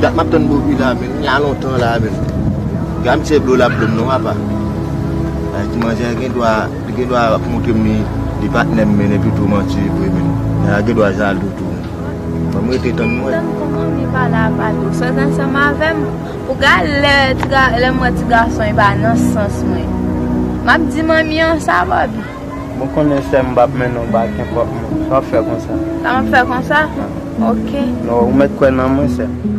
Dat map tann boby la menn, li la lontan la menn. Gade misye blol ap blom non apa. Bagay ti manzè a gen dwa. Li gen dwa ap moutre m li li patnè m men epi tou manti li premye m. Nana gen dwa jalou tou. Ban m rete tann m wè. Tann kou moun li pale a pale ou sot ansanm avè m pou gad lè m wè ti gason e pa nan sans mwen. M ap di manmi an sa Bòbi. Mwen konnen sè m m p ap mennen w bay kenpòt moun. Sa m ap fè konsa. Sa m ap fè konsa? Ok. Ou mèt kwè nan mwen sè m.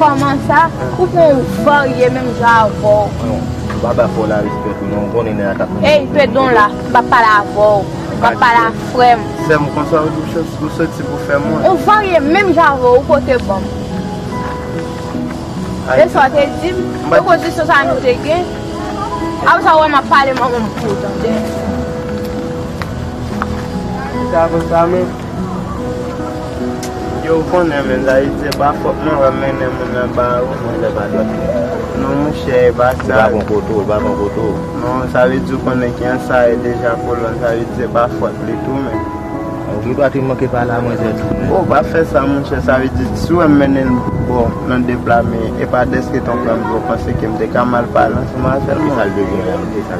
Koman sa Ou pran ou varye menm jan avèw. Mwen yo pa bay fo la respè tou non ou konnen nè a tap manje. Ey pedon la mpa pale avèw map pale a frèm. Sèm konsa ou di ou soti pou fè mwen. Ou varye menm jan avèw ou pote banm. E sa ou te dim e kondisyon sa nou te gen Aprè sa ou wè map pale manmanm pouw tande. Sa konsa menm. Yo ou konnen men Dayiti se pa fòt mwen wap mennen moun nan ba ou. Mwen se pa fòt mwen. Non monchè e pa sa. Ou pa kon kote ou, e pa kon kote ou. Non sa vle di ou konnen ki an sa ye deja kolòn sa vle di se pa fòt li tou men. Ou gen dwa te manke pale a manzè tou men. Ou pa fè sa monchè sa vle di si wèm mennen l bò nan de pla men e pa dèske ton pranm dlo ou panse ke m te ka mal pale ansanm avè l monchè. Ki sa l te gen an?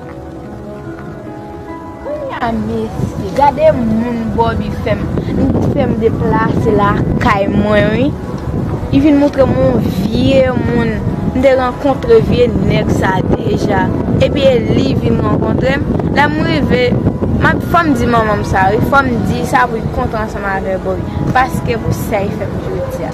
Kounya mesye gade moun Bobby fèm li fèm deplase lakay mwen wi li vin moutrem yon vye moun m te rankontre vye nèg sa deja epi e li vin rankontrem lèm rive map fòm di manmanm sa wi fòm di sa pou li kontan ansanm avè Bobby paske pou sa li fèm jodia.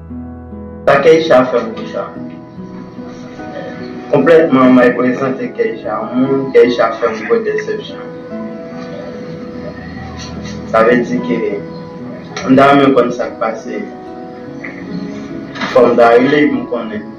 Sa Keisha fè pou Koucha Konplètman may prezante Keisha yon moun Keisha fè m gwo desepsyon Sa vle di ke m ta renmen konn sa k pase Fò m ta rele pou m konnen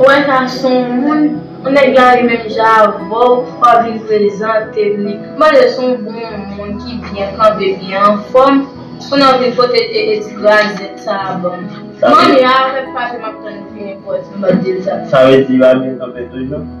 Ou wè sa son moun, on nèg la ri menm jan avèw wap vin prezante'm li, mande son bon moun ki byen kanpe byen anfòm pou nan vin pote ee ti grazèt sa banm. M'en ya avèk pase map tann li fini pòz m bal dil sa. Sa vle di yo ap vin kanpe toujou?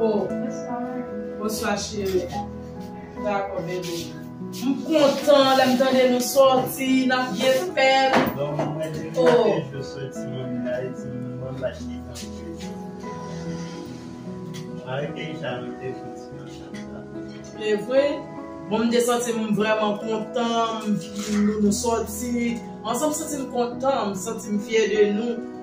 Oh bonswa cheri dako bebe. M kontan lèm tande nou sòti nap byen fèl oh. Evre bon m te santim vrèman kontan m vin nou nou sòti ansanm m santim kontan m santim fyè de nou.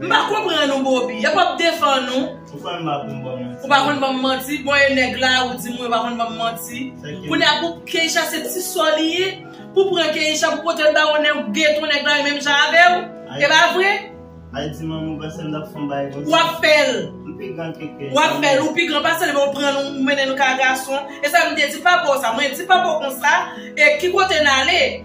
M pa konprann ou Boby. Yap ap defann ou. Ou pa konn banm manti. Ou pa konn banm manti. Bon e nèg la ou di mwen ou pa konn banm manti. Kounye a pou Keisha se ti sò li ye. Pou pran Keisha pou potel ba yon nèg ou gentan nèg la menm jan avèw. E pa vre? Al di manmanw pasem lap fon bagay konsa. Ou ap fèl. M pi gran ke Keisha. Ou ap fèl. Ou pi gran pasel men ou pran nou ou mennen nou ka gason. E sam te di papaw sa. Mwen di papaw konsa e ki kote nale.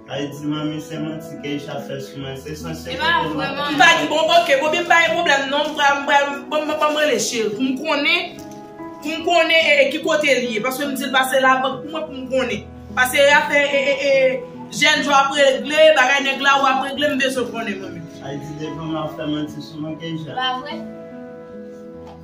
Ayiti manmi se manti keisha fè sou mwen se san sekrè ke nou ap pale. Mpa gen bon ok bon byen mpa gen problem non mpral mpral banm rele cheri poum konnen poum konnen ki kotel ye paske mdil pase la bank pou mwen poum konnen pase e afè e jèn jan wap regle bagay nèg la wap regle mbezwen konnen manmi. Ayiti devan map fè manti sou mwen keisha. Pavre?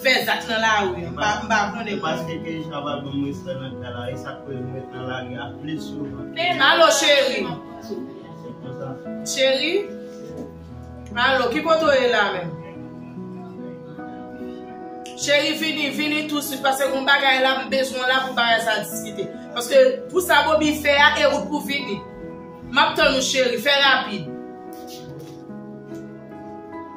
Fè zak nan lari m pa konnen. Paske Keyshia pa ban m respè nan kay la esak koz m ret nan lari a plis souvan. Alo cheri. Se konsa. Cheri. Alo ki kote w ye la menm. Cheri vini vini tou swit paske gon bagay la m bezwen w la pou bagay sa diskite. Paske pou sa Bobi fè a e ou pou vini. Map tann ou cheri fè rapid.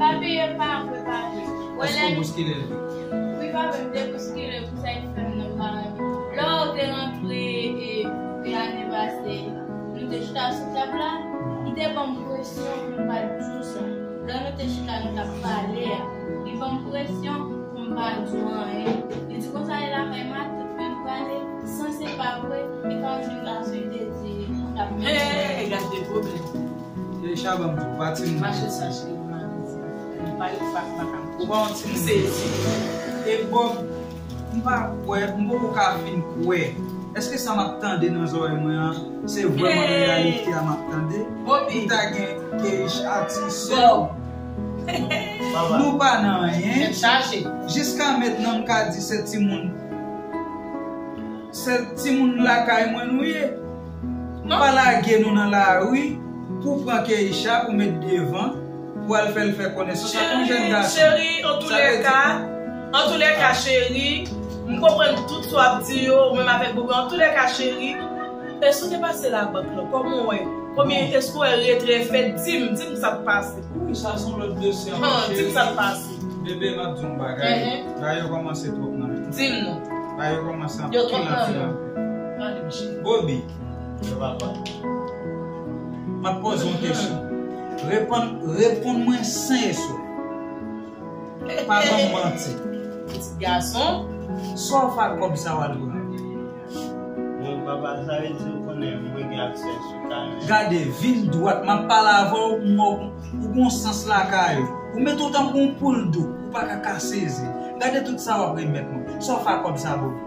Pa peye l pa vre pa vre. Eske w bouskile l tou? Wi pa vre m te bouskile pou sa ki fè m nan pa rantre. Lè w te rantre e ane pase nou te chita sou tab la li te banm presyon pou m pa t di w sa. Lè nou te chita nou t ap pale a li banm presyon pou m pa di w anyen. Li di konsa li lakay matant men m prale san se pa vre li pa vin la sou li te di li t ap vin. Hey gad de pwoblèm. Keisha banm tou pa timoun. Mache chache yon madanm m pa yon fat pa ka pou bon ti m sezi e bob m pa kwè m poko ka fin kwè eske sa map tande nan zorèy mwen an se vrèman reyalite a map tande pou ta gen Keisha ti sèw nou pa nan anyen jiska mentnan m ka di se timoun se timoun lakay mwen nou ye. Nou pa lage nou nan lari pou pran Keïsha pou met devan pou al fèl fè konesans ak yon jèn gason. Cheri antoulèka Antoulèka cheri M konprann tout sa w ap di yo ou menm avèk Boga Antoulèka cheri Èske ou te pase labank lan Kòman ou wè Konbyen Èske ou wè retrè fèt Di m Di m sa k pase Wouyy sa son lòt dosye ankò cheri Di m sa k pase Bebe m ap di w yon bagay Bagay yo kòmanse twòp nan Di m non Bagay yo kòmanse anpil anpil Yo twòp nan Bobi, Mwen papa. Map poze yon kesyon. Reponn, reponn mwen sen e sof. Pa banm manti. Pitit gason, sa w fè ak kòb sa w al pran? Bon papa sa vle di ou konnen mwen gen aksè sou kay mwen? Gade, vin dwat. Map pale avè w, m wè ou gon sans lakay ou. Ou mete w tankou yon poul dou. Ou paka ka sezi. Gade tout sa wap remèt mwen. Sa w fè ak kòb sa Bobi?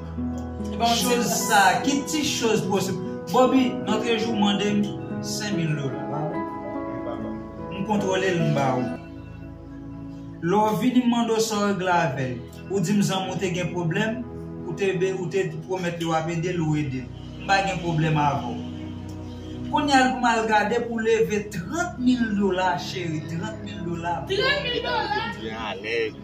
Choz sa a ki ti choz pou osip. Boby notre jou mande m 5000 dola pa vre? Wi papa. M kontwole l m ba ou. Lè w vini m mande w sa w regle avè l. Ou di m zanmi w te gen pwoblèm, ou te ou te pwomèt li w ap ede l ou ede l. M pa gen pwoblèm avè w. Kounye a l pou m al gade pou leve 30 mil dola cheri 30 mil dola. 30 mil dola! Ou byen alèz.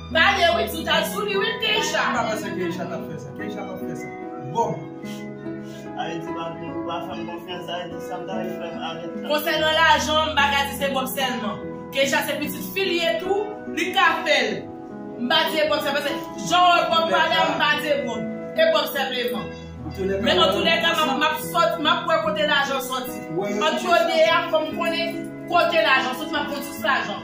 Pale wi tout al sou li wi Keisha. Mpa panse Keisha tap fè sa. Keisha pap fè sa. Bon. Ayiti pa vle pou pa fèm konfyans ayiti sam ta ye fèm avèl tanpri. Konsènan lajan m paka di se Bob sèlman. Keisha se pitit fi l ye tou, li ka fè l. M pa di e Bob sèl paske jan w wè Bob pale a m pa di e Bob. E Bob sèpleman. Men antoulèka map sot map wè kote lajan soti. Ant yo 2 a fò m konnen kote lajan soti map konn sous lajan.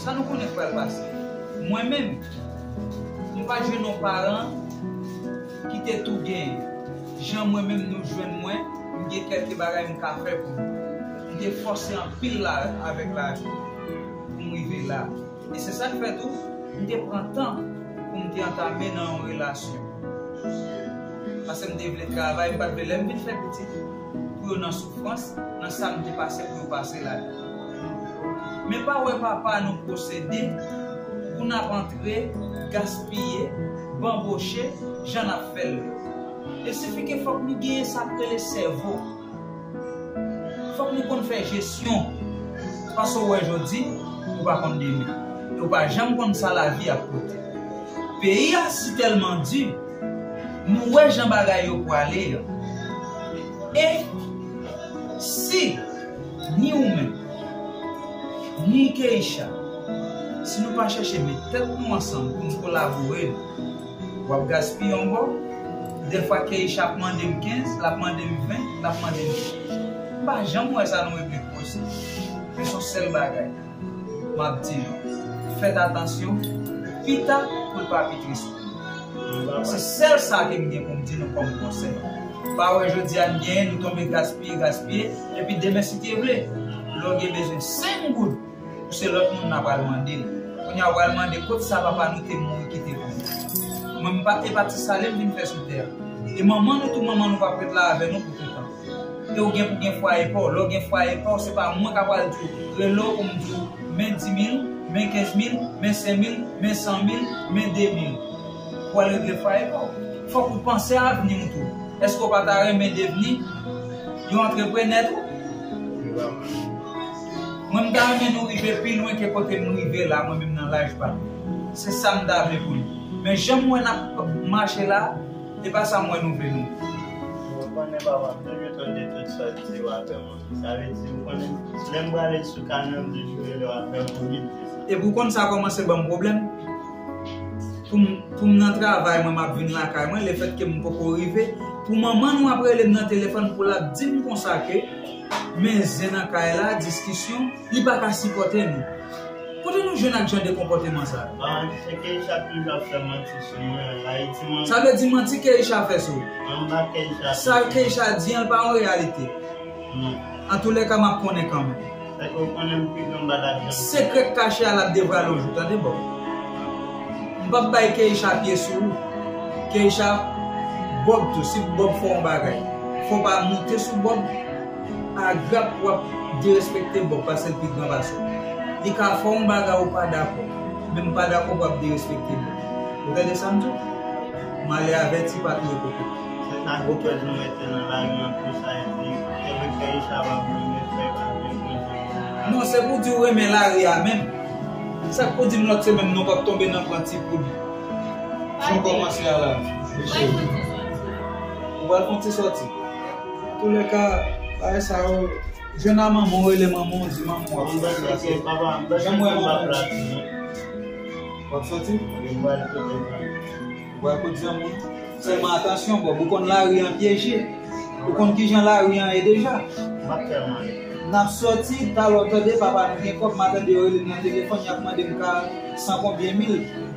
Sa nou konnen k pral pase? Mwen menm, m pa t jwenn yon paran ki te tou gen jan mwen menm nou jwenn mwen, m gen kèlke bagay m ka fè pou nou. M te fòse anpil la avèk lavi pou m rive la. E se sa k fè tou, m te pran tan pou m te antame nan yon relasyon. Pase m te vle travay, m pa t vle lè m vin fè pitit. pou yo nan soufrans, nan sa nou te pase pou yo pase la. Men pa wè papa nou posede pou n ap antre, gaspiye, banboche jan n ap fè l. E sifike fòk nou genyen sa k rele sèvo. Fòk nou konn fè jesyon. Paske ou wè jodi, ou pa konn demen. E ou pa janm konn sa lavi ap pote. Peyi a sitèlman di. Nou wè jan bagay yo pwale yo. E si ni ou menm, ni Keïsha, si nou pa chèche met tèt nou ansanm pou nou kolabore, w ap gaspiye yon bò, dèfwa Keïsha ap mande m 15, l ap mande m 20, l ap mande m 30. M pa janm wè sa nan replik poze. Men son sèl bagay. Map di nou. Fèt atansyon. Pita poul pa pi tris pou nou. Se sèl sa kem gen poum di nou kòm konsèy. Pa wè jodia n genyen nou tonbe gaspiye gaspiye epi demen si te vle. Lè w gen bezwen 5 goud ou se lòt moun nap al mandel. Kounya ou pral mande kot sa papa nou te mouri kite pou nou. Mwen m pa epa ti sale m vin fè sou tè a. E manman nou tou manman nou pap ret la avè nou pou toutan. E ou gen pou gen fwaye paw, lè ou gen fwaye paw se pa mwen ka pral diw rele w pou m diw men 10 mil, men 15 mil, men 5 mil, men 100 mil, men 2 mil. Ou pral regle fwaye paw. Fòk ou panse a avni ou tou. Eske ou pa ta renmen devni yon antreprenè tou? Mwen m ta renmen nou rive pi lwen ke kote m rive la mwen menm nan laj pa m. Se sa m ta vle pou nou. Men jan m wè nap mache la. E pa sa m wè nou vle nou. Ou konnen papa m te gentan di tout sa w di w a fè moun. Sa vle di ou konnen lè m prale sou kanè m toujou rele w ap fè moun vin di sa. Epi w konn sa kòmanse ban m pwoblèm. Pou m nan travay mwen m ap vin lakay mwen lefètke m poko rive pou manman nou ap rele m nan telefòn pou l ap di m konsa ke men zen nan kay la diskisyon. Li pa ka sipòte nou. Kote nou jwenn ak jan de konpòteman sa yo? Ba manti se Keisha toujou ap fè manti sou mwen an la e ti manmi. Sa vle di manti Keisha fè sou. Anba Keisha ap. Sa Keisha di an pa yon reyalite. Non. Antoulèka map konnen kanmenm. Fè ke w konnen m pi gran bada k janm. Sekrè k kache a lap devwale yon jou tande boo. M pap bay Keisha pye sou ou. Keisha Bob tou si Bob fè yon bagay fò w pa moute sou Bob. Agrap wap derespekte boo pasel pi gran pasew li ka fè yon bagay ou pa dakò menm pa dakò pou ap derespekte boo ou tande sam diw male avèti pa touye kokobe. Se sa gwo pèl nou mete nan lari an plus ayiti te vle fè isha pa vle men fek avek bondye pou nou lari. Non se pou di ou renmen lari a menm sak pou dim lot semenn nou pap tonbe nan pran ti poud jan ou komanse a la wi cheri ou pral fon ti soti. Antoulèka bagay sa yo jwenn a manman w rele manman w di manman w ap fè sa se janm wè manman w di w wap sòti wè kot zanmi w sèlman atansyon Bob ou konn lari an pyeje ou konn kijan lari an ye deja nap sòti talè w tande papa nou gen kòb ma tande yo rele m nan telefòn yap mande m ka san konbyen mil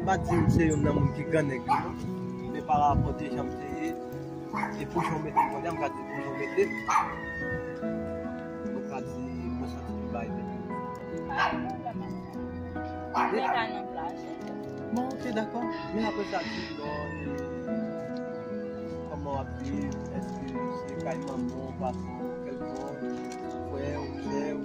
M pa di m se youn nan moun ki gran nèg yo non, men pa rapò de jan m te ye e pou jan w mete m kounye a m ka di pou jan w mete m, mwen ka di mwen santi m bay tèt mwen konfyans. Bon ok dakò, men aprè sa di m non e kòman w ap viv, èske se kay manman w, papa w, kèlkon, frè w, sè w?